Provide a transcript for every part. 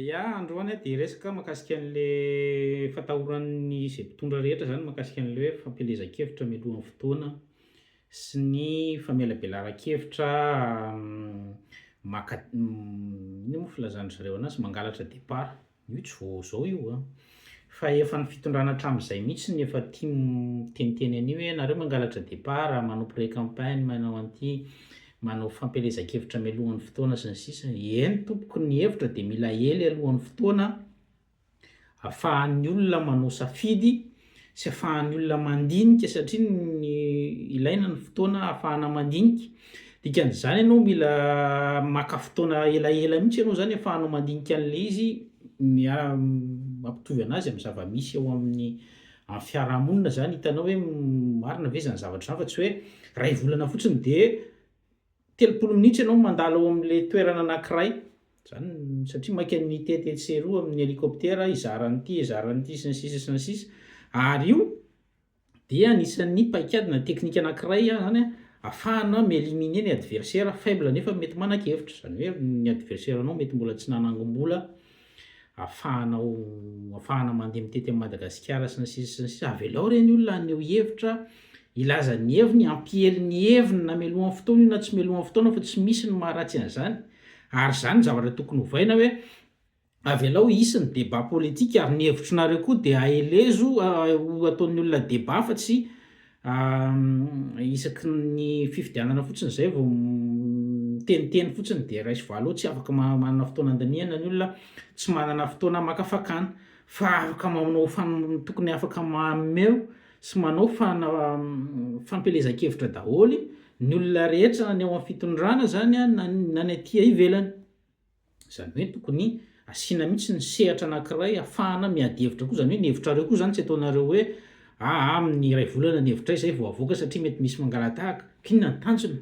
Ya, androany aho dia hiresaka mahakasika an'ilay fatahoran'ny izay mpitondra rehetra izany mahakasika an'ilay hoe fampielezan-kevitra mialohan'ny fotoana sy ny famelabelaran-kevitra maka inona moa filazan-dry zareo an'azy? mangalatra départ, io tsy vao izao io an! Fa efa ny fitondrana hatramin'izay mihitsy no efa tia miteniteny an'io hoe nareo mangalatra départ, manao pré campagne, manao an'ity, manao fampielezan-kevitra mialoha ny fotoana sy ny sisa. Eny tompoko ny hevitra dia mila ely aloha ny fotoana afahan'ny olona manao safidy sy afahan'ny olona mandinika satria ny ilaina ny fotoana afahana mandinika Dikan'izany ianao mila maka fotoana elaela mihitsy ianao izany ahafahanao mandinika an'ilay izy mampitovy anazy amin'ny zava-misy eo amin'ny amin'ny fiarahamonina izany hitanao hoe marina ve izany zavatra izany fa tsy hoe iray volana fotsiny dia telopolo minitra ianao mandalo ao amin'ilay toerana anankiray izany satria maika mitety etsy sy eroa amin'ny helicoptera hizara an'ity hizara an'ity sy ny sisa sy ny sisa ary io dia anisan'ny paikady na teknika anankiray izany ahafahana mi-eliminer ny adversaire faible nefa mety manan-kevitra, izany hoe ny adversaire anao mety mbola tsy nanangom-bola ahafahanao ahafahana mandeha mitety an'i Madagasikara sy ny sisa sy ny sisa, avelao ireny olona haneho hevitra, hilaza ny heviny, hampiely ny heviny na melohan'ny fotoana io na tsy melohan'ny fotoana fa tsy misy ny maharatsy an'izany ary izany no zavatra tokony ovaina hoe Avelao hisy ny débat politique ary ny hevitronareo koa dia aelezo ho ataon'ny olona débat fa tsy isaky ny fifidianana fotsiny izay vao miteniteny fotsiny dia raiso valo eo tsy afaka manana fotoana andinihana ny olona tsy manana fotoana maka fakana fa afaka manao tokony afaka mameo sy manao fana fampielezan-kevitra daholo ny olona rehetra na ny ao amin'ny fitondrana izany na ny aty ivelany. Izany hoe tokony asiana mihitsy ny sehatra anankiray hafahana miady hevitra koa, izany hoe ny hevitrareo koa izany tsy ataonareo hoe aa amin'ny iray volana ny hevitray izay vao avoaka satria mety misy mangalatahaka. Inona ny tanjona?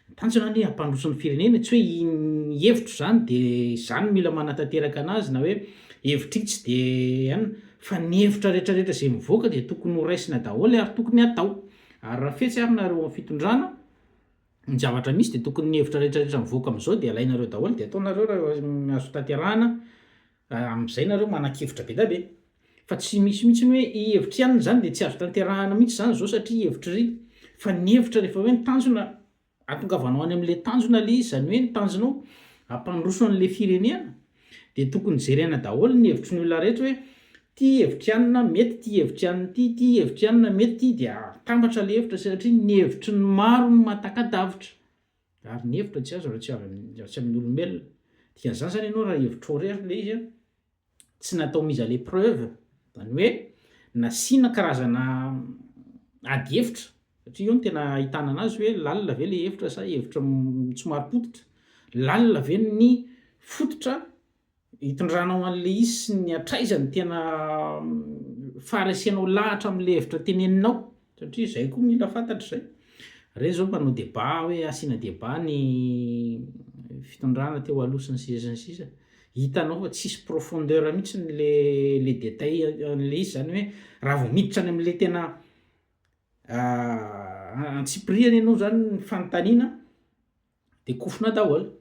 Ny tanjona anie hampandroso ny firenena e, tsy hoe iny hevitro izany dia izany no mila manatanteraka anazy na hoe hevitr'itsy dia an, fa ny hevitra rehetrarehetra izay mivoaka dia tokony ho raisina daholo ary tokony hatao. Ary raha fetsy ary nareo ao amin'ny fitondrana, ny zavatra misy dia tokony ny hevitra rehetra rehetra mivoaka amin'izao dia alainareo daholo dia ataonareo raha azo tanterahana raha amin'izay nareo manan-kevitra be dia be fa tsy misy mihitsy ny hoe i hevitry anona izany dia tsy azo tanterahana mihitsy izany izao satria hevitry fa ny hevitra rehefa hoe ny tanjona atongavanao any amin'ilay tanjona le izy izany hoe ny tanjonao hampandroso an'ilay firenena Dia tokony jerena daholo ny hevitry ny olona rehetra hoe ity hevitry anona mety ity hevitry anona ity ity hevitry anona mety ity dia atambatra ilay hevitra satria ny hevitry ny maro no mahataka-davitra ary ny hevitra tsy azo raha tsy avy raha tsy amin'ny olombelona dia zany zany ianao raha hevitrao irery ilay izy an tsy natao mise à l'épreuve zany hoe nasiana karazana ady hevitra Satria eo no tena ahitana anazy hoe lalina ve ilay efitra sa efitra tsy marim-pototra? Lalina ve ny fototra itondranao an'ilay izy sy ny hatraiza no tena faharesenao lahatra amin'ilay hevitra teneninao? Satria izay koa mila fantatra izay. Ireny izao mpanao débat hoe asiana débat ny fitondrana teo aloha sy ny sisa sy ny sisa. Hitanao fa tsisy profondeur mihitsy ilay ilay détail an'ilay izy, izany hoe raha vao miditra any amin'ilay tena Antsipirihany ianao zany ny fanontaniana de kofona daholo.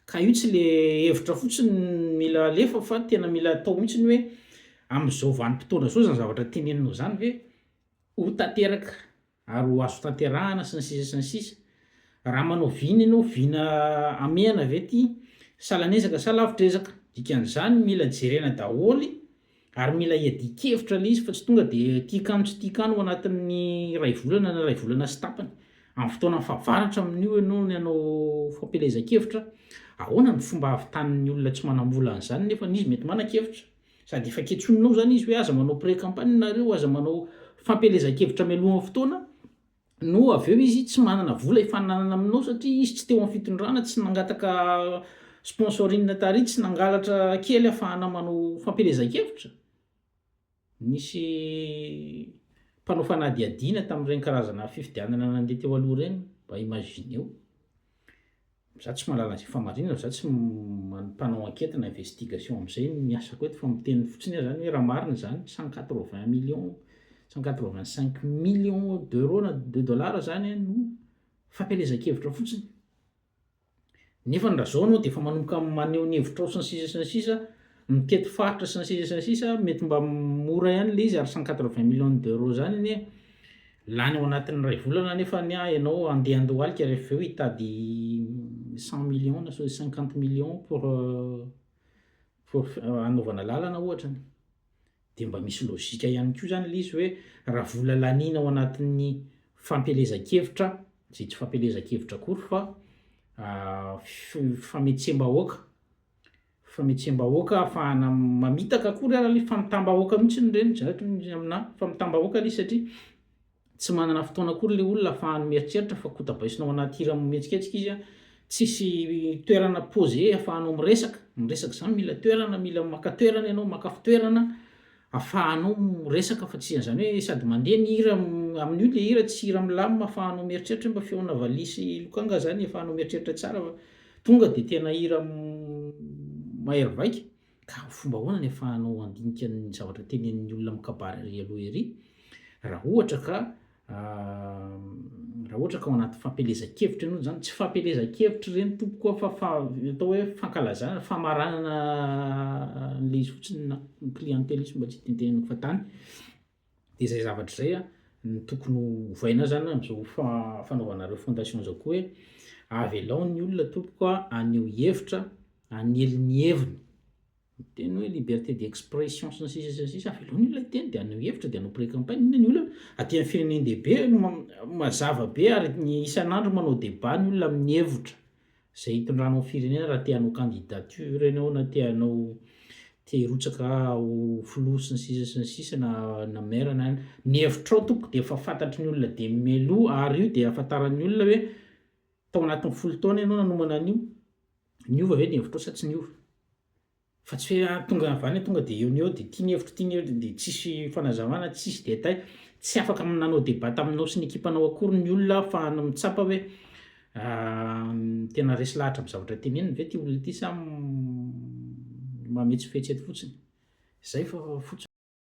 Ka io tsy le hevitra fotsiny mila alefa fa tena mila atao mihitsy ny hoe amin'izao vanim-potoana izao zany zavatra teneninao zany ve ho tanteraka ary ho azo tanterahana sy ny sisa sy ny sisa. Raha manao vina ianao, vina hamehana ve ty sa lan'ezaka sa lavitr'ezaka? Dikan'izany mila jerena daholo i. Ary mila iadian-kevitra ilay izy fa tsy tonga dia ity kano tsy ity kano ao anatin'ny iray volana na iray volana sy tapany. Amin'ny fotoana fahavaratra amin'io ianao no hanao fampielezan-kevitra. Ahoana ny fomba hahavitan'ny olona tsy manam-bola an'izany nefa izy mety manan-kevitra? Sady efa kentsoninao izany izy hoe aza manao pré-campagne nareo, aza manao fampielezan-kevitra mialohan'ny fotoana. no avy eo izy tsy manana vola hifaninanana aminao satria izy tsy teo amin'ny fitondrana, tsy nangataka sponsoring tary, tsy nangalatra kely hafahana manao fampielezan-kevitra? Nisy mpanao fanadihadiana tamin'ireny karazana fifidianana nandeha teo aloha ireny, mba imagineo. Za tsy mahalala ze famarinana fa za tsy mpanao enquête na investigation amzay ny asako eto fa miteny fotsiny ah zany hoe raha marina zany cent quatre vingt millions cent quatre vingt cinq millions d'euros na de dollars zany an no fampielezan-kevitra fotsiny nefa ny raha zao anao de efa manomboka maneho ny hevitrao sy ny sisa sy ny sisa mitety faritra sy ny sisa sy ny sisa mety mba mora ihany le izy ary cent quatre vingt millions d'euros zany anie lany ao anatin'ny ray volana nefa ny ahy ianao andeha handohalika rehefa avy eo hitady cent millions na so- cinquante millions pour euh, pour f- euh, hanaovana lalana ohatra de mba misy logika ihany koa zany le izy hoe raha vola laniana ao anatin'ny fampielezan-kevitra zay tsy fampielezan-kevitra akory fa ah, fi- fametsembahoaka Fametsembahoaka ahafahana mamitaka akory ary le famitambahoaka mihitsy ny reny zareo toy amina famitambahoaka le izy satria tsy manana fotoana akory le olona ahafahany mieritreritra fa kotabaisina ao anaty hira mihetsiketsika izy a tsisy toerana posé ahafahanao miresaka miresaka zany mila toerana mila maka toerana ianao maka fitoerana ahafahanao miresaka fa tsy zany hoe sady mandeha ny hira amin'io le hira tsy hira milamina ahafahanao mieritreritra mba feona valiha sy lokanga zany ahafahanao mieritreritra tsara fa Tonga dia tena hira mahery vaika, ka fomba ahoana ny afahanao handinika ny zavatra tenenin'ny olona amin'ny kabary ery aloha ery? Raha ohatra ka raha ohatra ka ao anaty fampielezan-kevitra ianao, izany tsy fampielezan-kevitra ireny tompoko a, fa atao hoe fankalazana, famaranana an'ilay izy fotsiny na clientelisme mba tsy hitenitenenako fa tany, de izay zavatra izay a no tokony ho ovaina azy zany am'zao fa- fanaovana ireo fondation zao koa hoe avelao ny olona tompoko a haneho hevitra hanely ny heviny miteny hoe liberté d'expression sy ny sisa sy ny sisa avelao ny olona hiteny de haneho hevitra de hanao pré-campagne inona ny olana aty amin'ny firenendehibe no ma- mazava be ary ny isan'andro manao débat ny olona amin'ny hevitra izay hitondranao ny firenena raha te hanao candidature ianao na te hanao te hirotsaka ho filoha sy ny sisa sy ny sisa na na maire na ny hevitrao tompoko dia efa fantatry ny olona dia mialoha ary io dia afantaran'ny olona hoe tao anatin'ny folo taona ianao nanomana an'io niova ve ny hevitrao sa tsy niova Fa tsy hoe ah tonga avy any tonga dia eo no eo dia ity ny hevitro ity ny hevitro dia tsisy fanazavana tsisy détail, tsy afaka manao débat taminao sy ny ekipanao akory ny olona ahafahana mitsapa hoe tena resy lahatra amin'ny zavatra teneniny ve ity olona ity sa mametsifetsy eto fotsiny? Zay fa fotsiny.